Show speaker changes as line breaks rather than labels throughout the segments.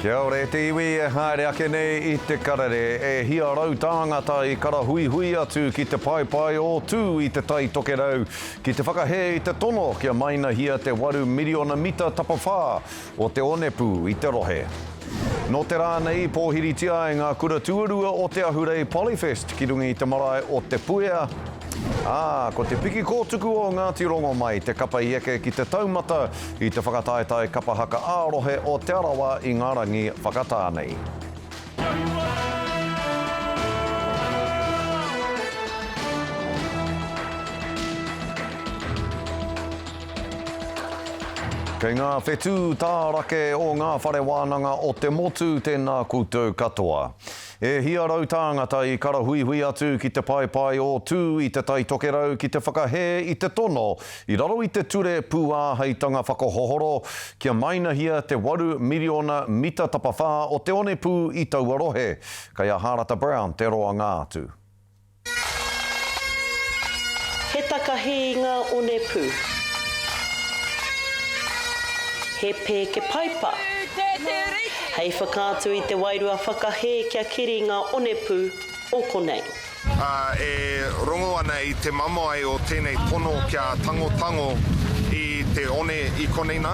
Kia ora e te iwi e haere ake nei i te karere e hia rau tāngata i karahuihui atu ki te paepae o Tū i te Tai Tokerau ki te whakahē i te tono kia mainahiia te waru miriona mita tapawhā o te onepū i te rohe. Nō te rā nei i pōhiritia ai ngā kura tuarua o te Ahurei Polyfest ki runga i te marae o Te Puea, ā, ko te piki kōtuku o Ngāti Rongomai te kapa i eke ki te taumata I te whakataetae kapa haka ā-rohe o Te Arawa i ngā rangi whakatā nei. Kei ngā whetū tā rake o ngā whare wānanga o te motu tēnā koutou katoa. E hia rau tāngata i karahuihui atu ki te paepae o Tū i Te Tai Tokerau ki te whakahē i te tono i raro i te Ture Pūāheitanga Whakahohoro kia maenahia te waru miriona mita tapawhā o te onepū i taua rohe. Kei a Hārata Brown te roanga atu.
He takahi ngā onepū. He pēke paipa. Hei whakaatu i te wairua whakahē kia keri ngā onepū o konei. E
rongo ana i te mamae o tēnei pono kia tangotango i te one i konei nā.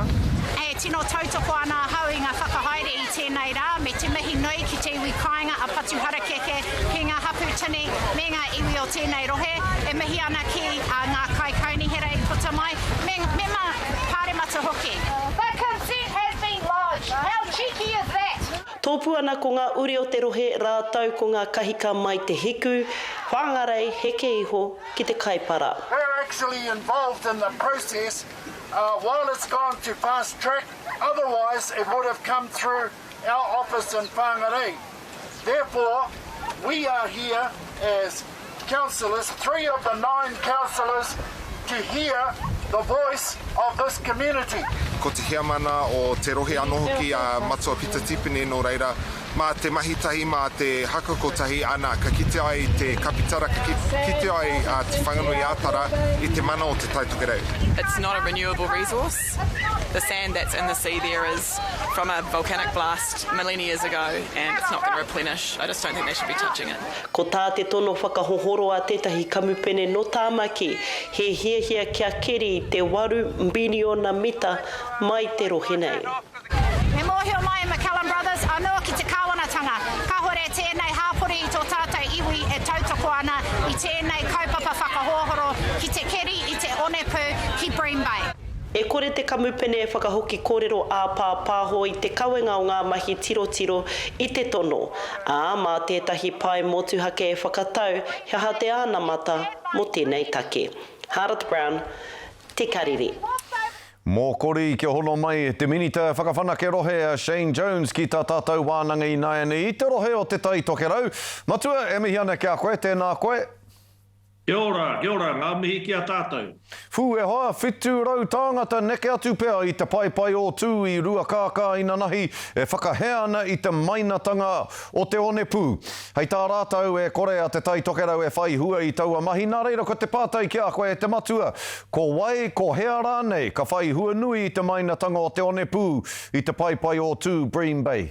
E tino
tautoko ana ahau i ngā whakahaere i tēnei rā me te mihi nui ki te iwi kāinga a Patuharakeke ki ngā hapū tini me ngā iwi o tēnei rohe e mihi ana ki ngā kaikaunihera i puta mai, me mema pāremata hoki. That consent has been lodged, how cheeky is that? Tōpū ana ko ngā
uri o te rohe rātou ko ngā kahika mai te hiku, Whāngarei, heke iho ki te Kaipara. We're actually
involved in the process while it's gone to fast track, otherwise it would have come through our office in Whangarei, therefore we are here as councillors, three of the nine councillors, to hear the voice of this community. Ko te heamana
o te rohe ano hoki a Matua Pita Tipene no reira, ma te mahi tahi, ma te haka kotahi, ana, ka kite ai te kapitara, ka kite ai te Whanganui-a-Tara i te mana o Te Tai Tokerau. It's not a renewable
resource. The sand that's in the sea there is from a volcanic blast million years ago and it's not going to replenish. I just don't think they should be touching it. Ko tā te tono
whakahohoro a tētahi kamupene nō Tāmaki, he hiahia kia keri te waru mbiliona mita mai te rohe nei. Me mōhio
mai e McCallum Brothers anō ki te kāwanatanga, kāhore tēnei hāpori i tō tātou iwi e tautoko ana i tēnei kaupapa whakahohoro ki te keri i te onepū ki Bream Bay. E kore te
kamupene e whakahoki kōrero āpāpāho i te kawenga o ngā mahi tirotiro i te tono, ā, mā tētahi pae motuhake e whakatau he aha te anamata mō tēnei take. Hardth Brown, Te Karere.
Mōkori kia hono mai te Minita Whakawhanake Rohe a Shane Jones ki tā tātou wānanga ināianei i te rohe o Te Tai Tokerau. Matua, e mihi ana ki a koe, tēnā koe. Kia
ora, kia ora, ngā mihi ki a tātou. Whū e hoa,
whitu rau tāngata neke atu pea i te paepae o Tū i Ruakākā inanahi e whakahea ana i te maina tanga o te onepū. Hei tā rātou, e kore a Te Tai Tokerau e whai hua i taua mahi, nā reira ko te pātai ki a koe e te matua, ko wai, ko hea rānei ka whai hua nui i te mainatanga o te onepū i te paepae o Tū, Bream Bay?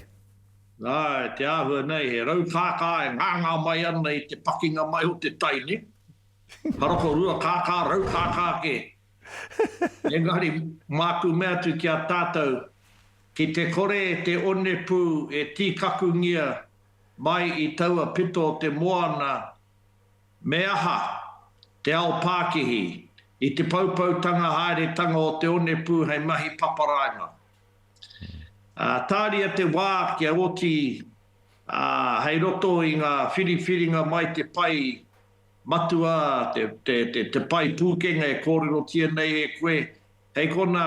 Nā
te āhua nei he rau kākā e ngāngā mai ana i te pakinga mai o te tai nei, haroko rua kākā, rau kākā kē. Engari māku mea atu ki a tātou, ki te kore te onepū e tīkakungia Mai i taua pito o te moana me aha te ao pākihi i te poupoutanga haeretanga o te onepū hei mahi paparaima. Tāria te wā kia oti hei roto i ngā whiriwhiringa mai te pae matua, te pae pūkenga e kōrerotia nei e koe, hei konā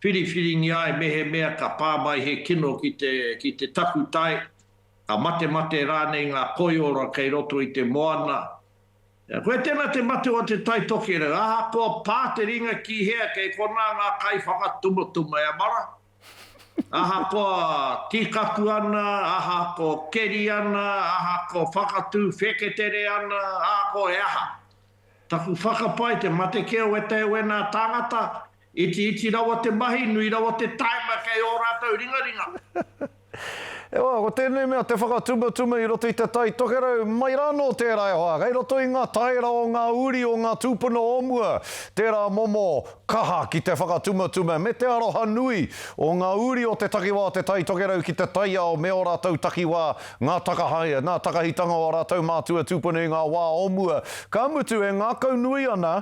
Whiriwhiringia ai mehemea ka pā mai he kino ki te, ki te takutai, ka matemate rānei ngā koiora kei roto i te moana. Koe tēnā te matua o te Tai Tokerau, ahakoa pā te ringa ki hea, kei konā ngā kaiwhakatumutuma e amara. Ahakoa tīkaku ana, ahako keri ana, ahako whakatū wheketere ana, ahako he aha. Taku whakapae te mate kē o ētahi o ēnā tāngata, Itiiti rawa te mahi, nui rawa te taima kei ō rātou ringaringa.
E hoa, ko tēnei mea te whakatumatuma i roto i te tai tokerau, mai rā anō tērā e hoa, kei roto i ngā taera o ngā uri o ngā tūpuna o mua, tērā momo kaha ki te whakatumatuma me te aroha nui o ngā uri o te takiwā o te tai tokerau ki te taiao me ō rātou takiwā, ngā takahae, ngā takahitanga o ā rātou mātua tūpuna i ngā wā o mua, ka mutu e ngākaunui ana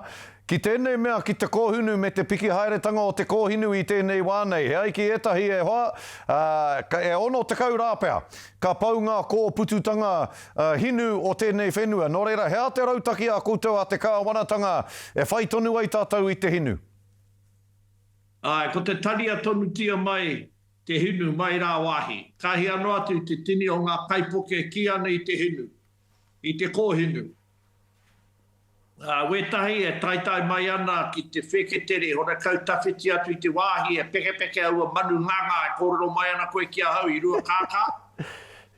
Ki tēnei mea, ki te kōhunu me te piki haeretanga o te kōhinu i tēnei wā nei, he ai ki ētahi e hoa, ā, e 60 rā pea, ka pau ngā kōpututanga hinu o tēnei whenua. Nō reira, he aha te rautaki a koutou a te Kāwanatanga e whai tonu ai tātou i te hinu?
Āe, ko te tania tonutia mai te hinu mai rāwāhi. Ka hia noa atu te tini o ngā kaipuke kī ana i te hinu, i te kōhinu. Ā, wētahi e taetae mai ana ki te wheketere, horekau tawhiti atu i te wāhi e pekepeke aua manu ngangā e kōrero mai ana koe ki ahau i Ruakākā.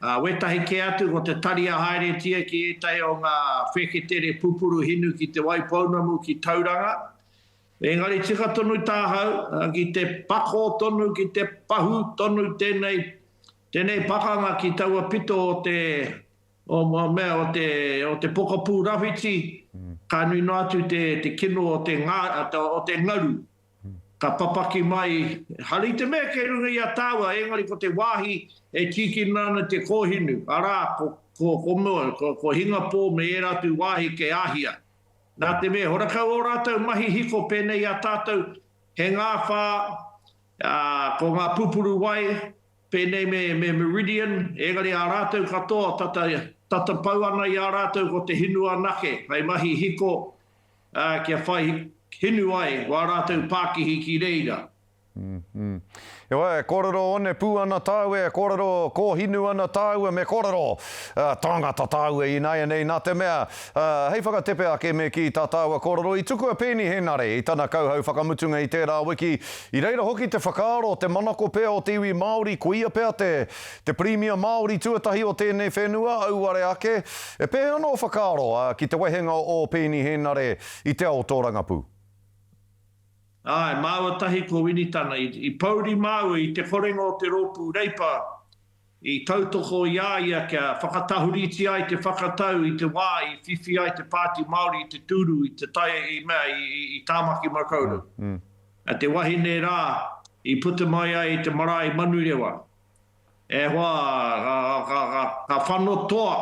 Ā, wētahi kē atu ko te tari a haeretia ki ētahi o ngā wheketere pupuru hinu ki Te Waipounamu, ki Tauranga. Engari tika tonu tāhau, ki te pako tonu, ki te pahū tonu tēnei, tēnei pakanga ki taua pito o te. Ngā mea o te pokapū rawhiti, ka nui noa atu te kino o te ngaru, ka papaki mai, haere i te mea kei runga i a tāua, engari ko te wāhi e tīkina ana te kōhinu, arā, ko Hingapō me ērā atu wāhi kei Āhia. Nā te mea, he horakau ō rātou mahi hiko pēnei i a tātou, he ngāwhā, ko ngā pupuru wai, Pēnei me Meridian, engari ā rātou katoa tata tatapau ana i a rātou ko te hinu anake hei mahi hiko kia whai hinu ai wā rātou pākihi ki reira.
Heoi, e kōrero one pū ana tāu, e kōrero kōhinu ana tāu, me kōrero tāngata tāu i nāianei, nā te mea, Ā, hei whakatepe ake me kī tā tāua kōrero, i tuku a Peeni Henare i tana kauhau whakamutunga i tērā wiki, i reira hoki te whakaaro o te manako pea o te iwi Māori koia pea te te Pirimia Māori tuatahi o tēnei whenua, auare ake. E pēhea ana ō whakaaro, ā, ki te wehenga o Peeni Henare i te ao tōrangapū?
Āe, māua tahi ko Winitana. I pouri māua i te korenga o te rōpū Reipa I tautoko i a ia kia whakatahuriti ai te whakatau i te wā i whiwhi ai te Pāti Māori i te tūru i te tai i mea i Tāmaki Makaurau, te wahine rā i puta mai ai te marae Manurewa. E hoa, ka whano toa,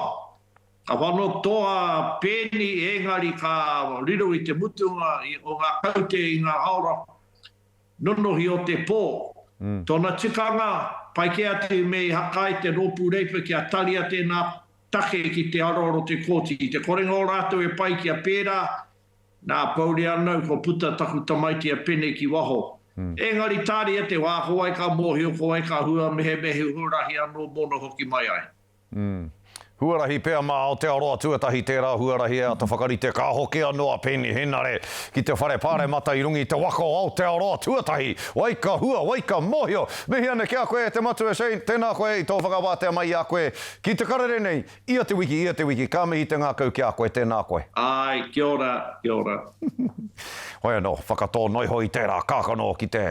ka whano toa pēni ēngari ka riro i te mutunga o ngā kaute i ngā aoranga. Nonohi o te pō. Tōna tikanga, pai kē atu me i haka ai te Rōpū Reipa kia taria tēnā take ki te aroaro te Kōti. I te korenga o rātou e pai kia pērā, nā, pouri anau kua puta taku tamaiti a Pene ki waho. Engari tāria te wā ko wai ka mōhio, ko wai ka hua, mehemehe huarahi anō mōna hoki mai ai.
Huarahi pea mā Aotearoa tuatahi tērā huarahi e āta whakarite ka hoki anō a Peeni Henare ki te Whare Pāremata i runga i te waka o Aotearoa tuatahi. Wai ka hua, wai ka mōhio. Mihi ana ki a koe e te Matua Shane, tēnā koe i tō whakawātea mai i a koe ki te karere nei ia te wiki, ia te wiki. Ka mihi te ngākau ki a koe, tēnā koe. Āe, kia ora,
kia ora.
Hoi anō, whakatō noa iho i tērā kākano ki te,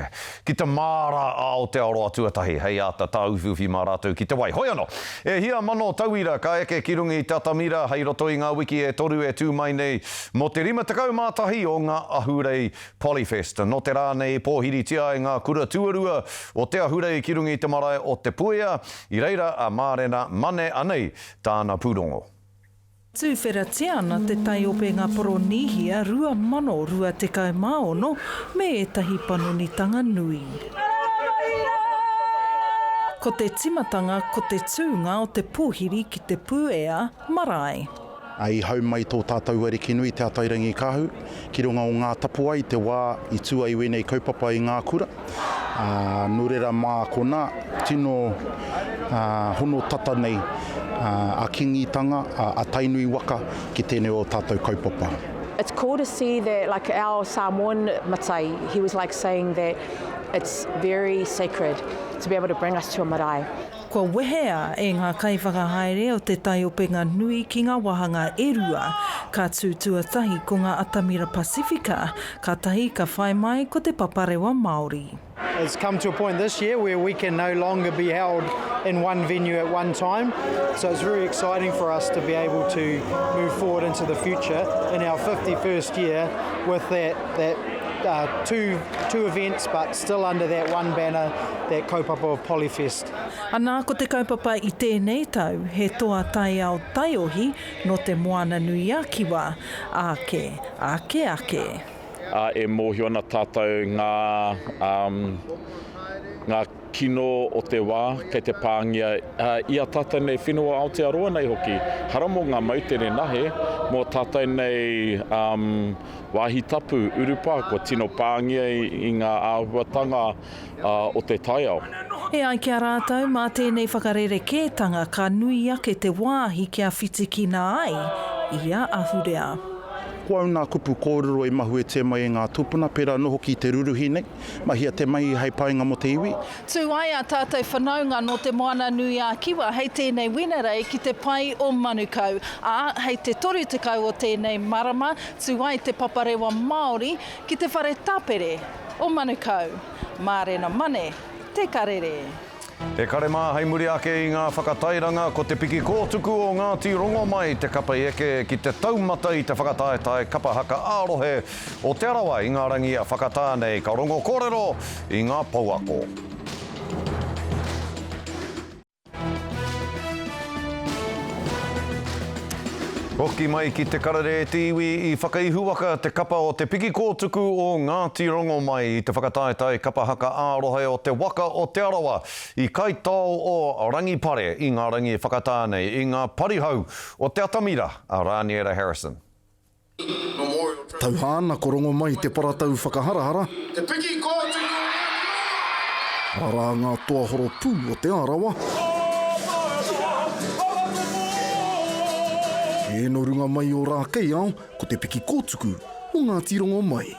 ki te māra a Aotearoa tuatahi hei āta tāuwhiuwhi mā rātou ki te wai. Hoi anō, e hia mano tauira ka eke ki runga i te atamira hei roto i ngā wiki e toru e tū mai nei mō te 51 o ngā ahurei Polyfest. Nō te rā nei i pōhiritia ai ngā kura tuarua o te ahurei ki runga i te marae o Te Puea, i reira a Mārena Mane anei tāna pūrongo.
Tūwheratia ana te taiopenga Poronīhia 2026 me ētahi panonitanga nui. Ko te timatanga ko te tūnga o te pōhiri ki te puea marae. I hau
mai tō tātou ariki nui Te Atairangikaahu ki runga o Ngātapuai te wā i tū ai wēnei kaupapa i ngā kura. ā, nō reira mā konā tino hono tata nei a Kīngitanga, a Tainui waka ki tēnei o tātou kaupapa. It's cool to
see that like our Samoan matai, he was like saying that it's very sacred to be able to bring us to a marae. Kua wehea
e ngā kaiwhakahaere o Te Tai Openga Nui ki ngā wāhanga e rua, ka tū tuatahi ko ngā atamira Pasifika, kātahi ka whai mai ko Te Paparewa Māori.
Has come to a point this year where we can no longer be held in one venue at one time, so it's very exciting for us to be able to move forward into the future in our fifty first year with that that uh, two two events but Still under that one banner, that kaupapa of Polyfest. Anā ko te
kaupapa i tēnei tau he toa taiao taiohi nō te Moana-nui-a-Kiwa ake ake ake. Ā, e mōhio
ana tātou ngā, um, ngā kino o te wā kei te pāngia i ā tātou nei whenua o Aotearoa nei hoki. Hara mō ngā moutere nahe, mō tātou nei, um, Wāhi tapu, urupā kua tino pāngia i ngā āhuatanga o te taiao. E ai ki a
rātou, mā tēnei whakarerekētanga ka nui ake te wāhi kia whitikina ai ia ahurea. Ko au nā
kupu kōrero i mahuetia mai e ngā tūpuna, pērā anō hoki i te rūruhi nei, mahia te mahi hei painga mō te iwi. Tū ai ā tātou
whanaunga nō Te Moana-nui-ā-Kiwa hei tēnei Wenerei ki te pae o Manukau, ā, hei te 30 o tēnei marama Tū ai Te Paparewa Māori ki te whare tapere o Manukau, Mārena Mane, Te Karere. He kare
mā hei muri ake i ngā whakatairanga ko te piki kōtuku o Ngāti Rongomai te kapa i eke ki te taumata i te whakataetae kapa haka ā-rohe o Te Arawa i ngā rangi a Whakatā nei ka rongo kōrero i ngā pouako. Hoki mai ki te karere e te iwi i whakaihuwaka te kapa o Te Piki Kōtuku o Ngāti Rongomai i te whakataetae kapa haka ārohe o te waka o Te Arawa i Kaitao o Rangipare i ngā rangi e whakatā nei i ngā parihau o te atamira a Rāniera Harrison. Tauhā
na ko rongo mai te paratau whakaharahara. Te piki ko atu ko Rangiora. Rara nga toa horopū o Te Arawa. Ke no runga mai o Rakeiao, ko te piki kotuku o Ngati Rongomai.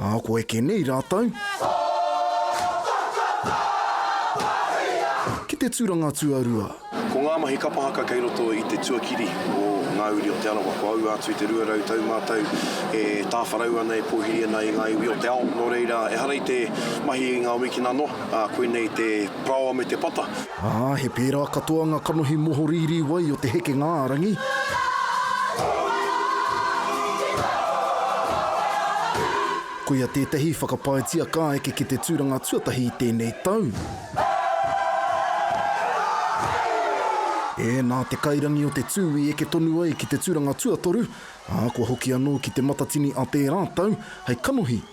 Ā, ko eke nei rātou. Ki te tūranga tuarua. Ko ngā mahi kapa
haka kei roto i te tuakiri o Ngā Uri o Te Arawa, kua ū atu i te 200 tau mātou e tāwharau ana, e pōhiri ana i ngā iwi o te ao. Nō reira, ehara i te mahi i ngā wikina noa, ā, koinei te paraoa me te pata. Ā, he pērā
katoa ngā kanohi mohorīrī wai o te hekenga-ā-rangi. Koia tētahi whakapaetia ka eke ki te tūranga tuatahi i tēnei tau. Ē, nā te kairangi o te tū i eke tonu ai ki te tūranga tuatoru, ā, kua hoki anō ki te matatini a tērā tau hei kanohi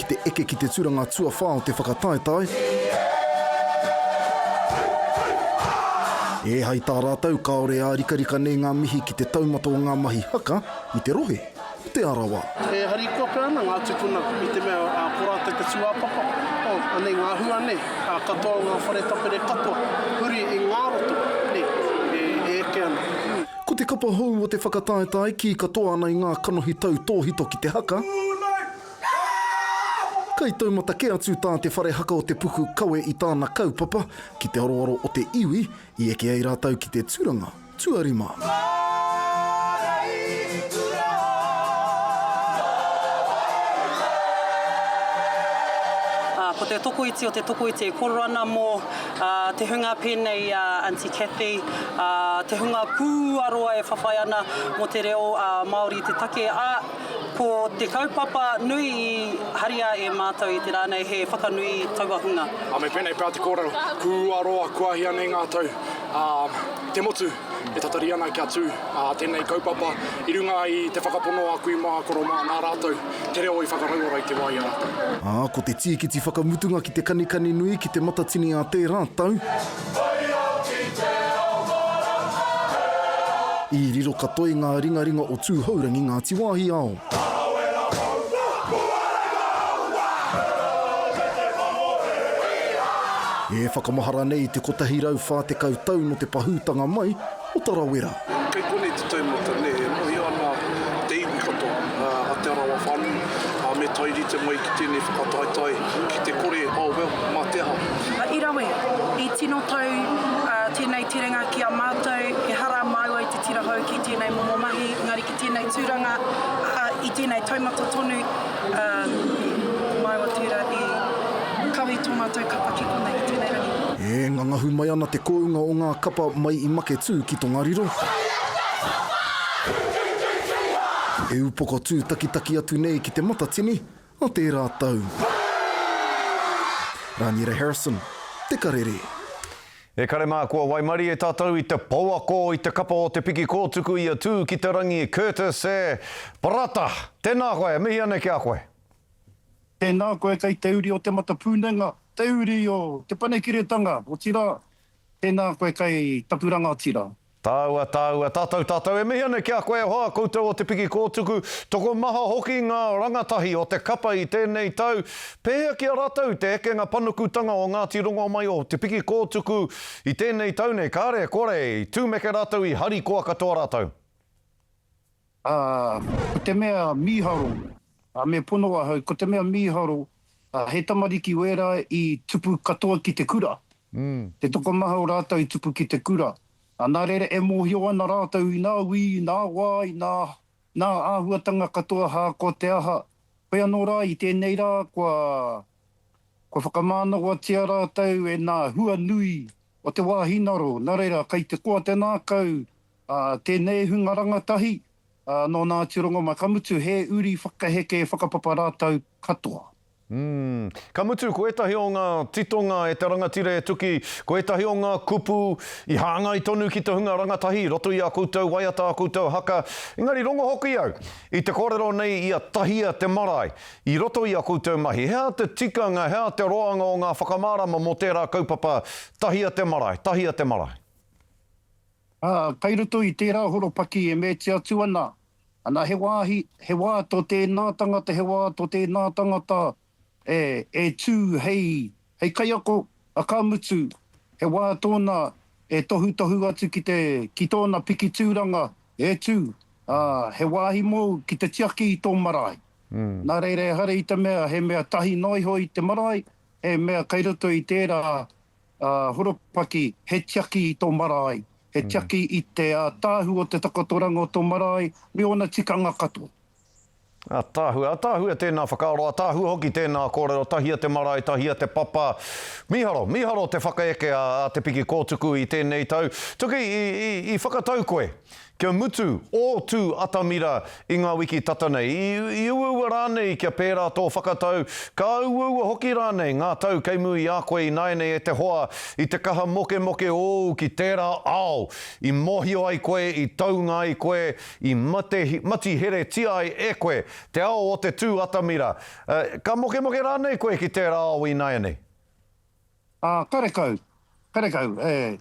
ki te eke ki te turanga tuawhā o te whakataetae, ē hai tā rātou kāore e ārikarika nei ngā mihi ki te taumata o ngā mahi haka i te rohe o Te Arawa. E harikoa pea
ana ngā tūpuna i te mea ko rātou te tūāpapa, oh, anei ngā hua nei, ā, katoa o ngā whare tapere katoa, huri i ngā roto nei e eke ana. Ko te kapa
hou o te whakataetae, kī katoa ana i ngā kanohi tau tōhito ki te haka, Kai taumata kē atu tā te whare haka o te puku kawe i tāna kaupapa ki te aroaro o te iwi i eke ai rātou ki te tūranga tuarima.
Ko te tokoiti o te tokoiti e koro ana mō te hunga pēnei i a Aunty Cathy, te hunga pūaroa e whawhai ana mō te reo Māori i te take, ā, Ko te kaupapa nui i haria e mātou i te rā nei he whakanui taua hunga. A me pēnei pea te
kōrero, kū a roa kua hia nei ngā tau, ā, te motu e tatari ana kia tū ā tēnei kaupapa i runga i te whakapono a kui mā koro mā nā rātou te reo i whakarauora i te wā i a rātou. Ā, ko te tīkiti
whakamutunga ki te kanikani nui ki te matatini ā tērā tau. I riro katoi ngā ringaringa o Tūhourangi Ngāti Wāhiao. E whakamahara nei te 140 tau nō te pahūtanga mai, o Tarawera. Kei konei te
taumata, nē, e mohio ana te iwi katoa a Te Arawa whānui, ā, me tae rite mai ki tēnei whakataetae ki te kore, oh well, mā te aha. I rawe,
i tino tau tēnei terenga ki a mātou, ehara māua i te tira hou ki tēnei momo mahi, engari, Tēnei tūranga, ā, i tēnei taumata tonu, ā, mai o tērā i kawe tō mātou kapa ki konei, ki tēnei rangi. E ngangahu mai
ana te kounga o ngā kapa mai i Maketū ki Tongariro. E upoko tūtakitaki atu nei ki Te Matatini, Nō tērā tau. Rāniera Harrison, Te Karere. E kare
mā, kua waimarie tātou i te pouako i te kapa o te piki kōtuku i a Tūkitarangi Curtis e. Parata! Tēnā koe, e mihi ana ki a koe. Tēnā
koe kei te uri o Te Matapūnenga, te uri o Te Panekiretanga, otirā, tēnā koe kei taku rangatira. Tāua, tāua, tātou,
tātou e mihi ana ki a koe e hoa, koutou o Te Piki Kōtuku, tokomaha hoki ngā rangatahi o te kapa i tēnei tau, pēhea ki a rātou te ekenga panukutanga o Ngāti Rongomai o Te Piki Kōtuku i tēnei tau nei, kāre, kore, i tūmeke rātou i harikoa katoa rātou. Ā,
ko te mea mīharo, ā, me pono ahau, ko te mea mīharo, ā, he tamariki wērā i tupu katoa ki te kura, te tokomaha o rātou i tupu ki te kura, ā, nā reira e mōhio ana rātou i ngā wī, i ngā wā, i ngā, ngā āhuatanga katoa ahakoa te aha, koia nō rā, i tēnei rā, kua. Kua whakamānawatia rātou e nā hua nui o te wāhi naro, nā reira kei te koa te nākau a tēnei hunga rangatahi, ā, nō nā atu rongomai, ka mutu he uri whakaheke whakapapa rātou katoa. Umm.
Ka mutu ko ētahi o ngā titonga e te rangatira e tuki, ko ētahi o ngā kupu i hāngai tonu ki te hunga rangatahi i roto i ā koutou waiata, ā koutou haka, engari rongo hoki au i te kōrero nei i a Tahia te marae, I roto i a koutou mahi, hea te tikanga, hea te roanga o ngā whakamārama mō tērā kaupapa, tahia te marae, tahia te marae.
Ā, kei roto i tērā horopaki e meti atu ana, ana he wāhi, he wā tō tēnā tangata, he wā tō tēnā tangata e, e tū hei Hei kaiako, a ka mutu, he wā tōna e tohutohu atu ki te, ki tōna piki tūranga e tū, ā, he wāhi mōu ki te tiaki i tō marae. Nā reira ehara i te mea he mea tahi noa iho i te marae, he mea kei roto i tērā horopaki he tiaki i tō marae, he tiaki i te ātaahu o te takotoranga o tō marae me ōna tikanga katoa. Ataahua,
ataahua tēnā whakaaro, ataahua hoki tēnā kōrero, tahia te marae, tahia te papa. Mīharo, mīharo te whakaeke a Te Piki Kōtuku i tēnei tau. Tuki, i, i, i whakatau koe, kia mutu ō tū atamira i ngā wiki tata nei, i, i uaua rānei kia pērā tō whakatau, ka uaua hoki rānei ngā tau kei mū i a koe ināianei e te hoa, i te kaha mokemoke ōu ki tērā ao i mōhio ai koe, i taunga ai koe, I mate, mati heretia ai e koe te ao o te tū atamira. Ka mokemoke rānei koe ki tērā ao ināianei? Ā,
karekau, karekau, ē,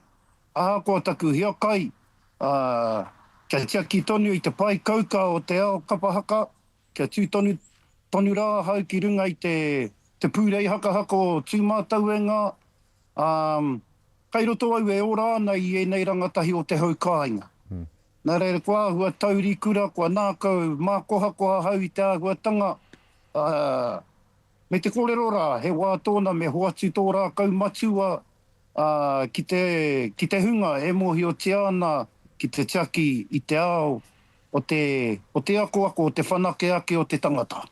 ahakoa taku hiakai, ā, kia tiaki tonu i te pae kauka o te ao kapa haka, kia tū tonu, tonu rā ahau ki runga i te, te pūrei hakahaka o Tūmātauengā, ā, kai roto au e ora ana i ēnei rangatahi o te hau kāinga. Nā reira kua āhua taurikura, kua nākau mākohakoha ahau i te āhuatanga, ā, me te kōrero rā, he wā tōna me hoatu tō rākau matua, ā, ki te, ki te hunga e mōhiotia ana ki te tiaki i te ao o te, o te akoako, o te whanake ake o te tangata.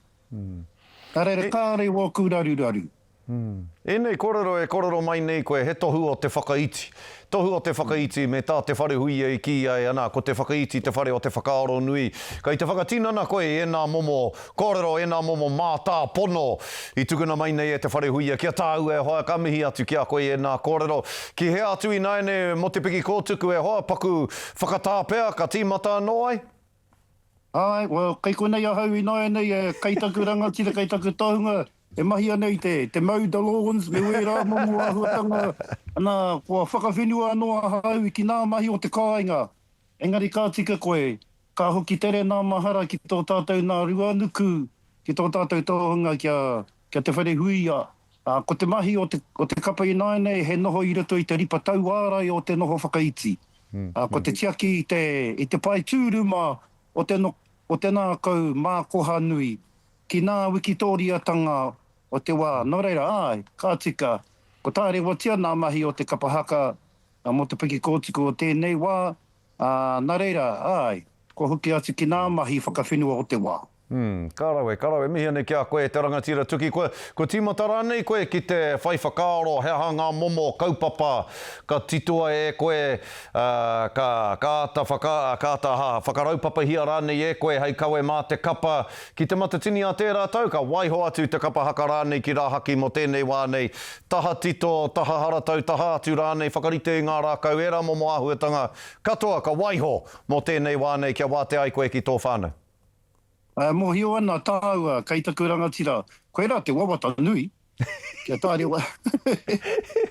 Ka rere kāre wōku raruraru.
Ēnei kōrero e kōrero mai nei koe he tohu o te whakaiti. Tohu o te whakaiti me tā te wharehuia i kīia e ana ko te whakaiti te whare o te whakaaro nui. Kei te whakatinana koe i ēnā momo kōrero, ēnā momo mātāpono i tukuna mai nei e te wharehuia ki a tāua e hoa, ka mihi atu ki a koe i ēnā kōrero. Ki hea atu ināianei mō te piki kōtuku e hoa, paku whakatā pea ka tīmata anō ai? Āe,
well, kei konei ahau ināianei, kei taku rangatira, kei taku tohunga, e mahi ana i te, te mau Dolawins me wērā momo āhuatanga, nā, kua whakawhenua anō ahau ki ngā mahi o te kāinga. Engari ka tika koe, ka hoki tere nā mahara ki tō tātou nā Ruanuku, ki tō tātou tohunga kia, Kia te wharehuia, ā, ko te mahi o te, o te kapa ināianei he noho i roto i te ripa tauārai o te noho whakaiti, ā, ko te tiaki i te, i te pae tūruma o te no, o te nākau mākoha nui, ki nā wikitōriatanga o te wā. Nō reira, āe, ka tika, ko tārewatia nā mahi o te kapa haka mō te piki kōtuku o tēnei wā, ā, nā reira, āe, kua hoki atu ki nā mahi whakawhenua o te wā. Umm, ka rawe, ka rawe.
Mihi anei ki a koe, te rangatira tuki koe. Kua tīmata rānei koe ki te whai whakaaro he aha ngā momo kaupapa ka titoa e koe, ā, ka, ka āta whaka, ka āta aha, whakaraupapahia rānei e koe hei kawe mā te kapa? Ki Te Matatini a tērā tau, ka waiho atu te kapa haka rānei ki rāhaki mō tēnei wā nei. Taha tito, taha haratau, taha atu rānei, whakarite i ngā rākau ērā momo āhuatanga katoa ka waiho mō tēnei wā nei kia wātea ai koe ki tō whānau. E
mōhio ana tāua kei taku rangatira, koirā te wawata nui, kia tāre wā.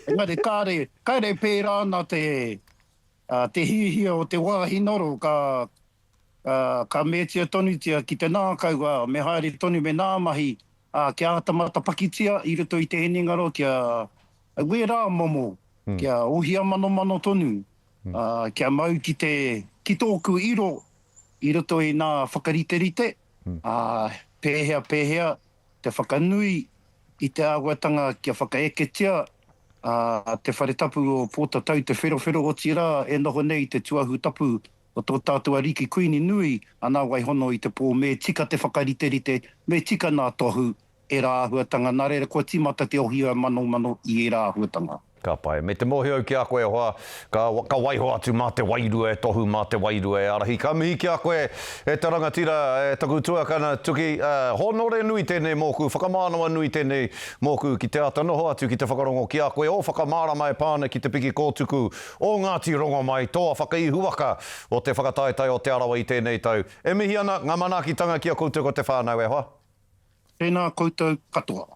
Engari kāre, kāre e pērā ana te, te hiahia o te wāhi noro, ka, ka metia tonutia ki te nākau, ā, me haere tonu, me nā mahi, ā, kia āta matapakitia i roto i te hinengaro, kia, wērā momo, kia ohia manomano tonu, ā, kia mau ki te, ki tōku iro, I roto i nā whakariterite, pēhea, pēhea te whakanui i te āhuatanga kia whakaeketia te whare tapu o Pōtatau, te wherowhero, otirā, e noho nei i te tuahu tapu o tō tātou ariki Kuini nui a Nāwaihono i te pō, me tika te whakariterite, me tika nā Tohu, Ērā āhuatanga, nā reira kua tīmata te ohia manomano i ērā āhuatanga. Ka pai. Me te mōhio
ki a koe, e hoa, ka, ka waiho atu mā te wairua e tohu, mā te wairua e ārahi. Ka mihi ki a koe, e te rangatira, e taku tuakana, Tuki, aa, hōnore nui tēnei mōku, whakamānawa nui tēnei mōku ki te āta noho atu ki te whakarongo ki a koe, ō whakamārama e pā ana ki te piki kōtuku o Ngāti Rongomai, tōa whakaihuwaka o te whakataetae o Te Arawa i tēnei tau. E mihi ana, ngā manaakitanga ki a koutou ko te whānau, e hoa. Tēnā
koutou katoa.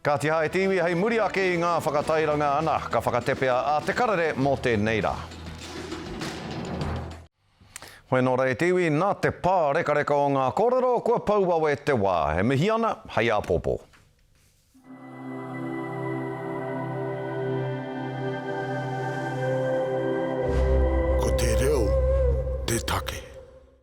Kāti
hae te iwi hei muri ake i ngā whakatairanga ana ka whakatepea a Te Karere mō tēnei rā. Hoi anō rā e te iwi, nā te pārekareka o ngā kōrero kua pau wawe te wā. E mihi ana, hei āpōpō.
Ko te reo te take.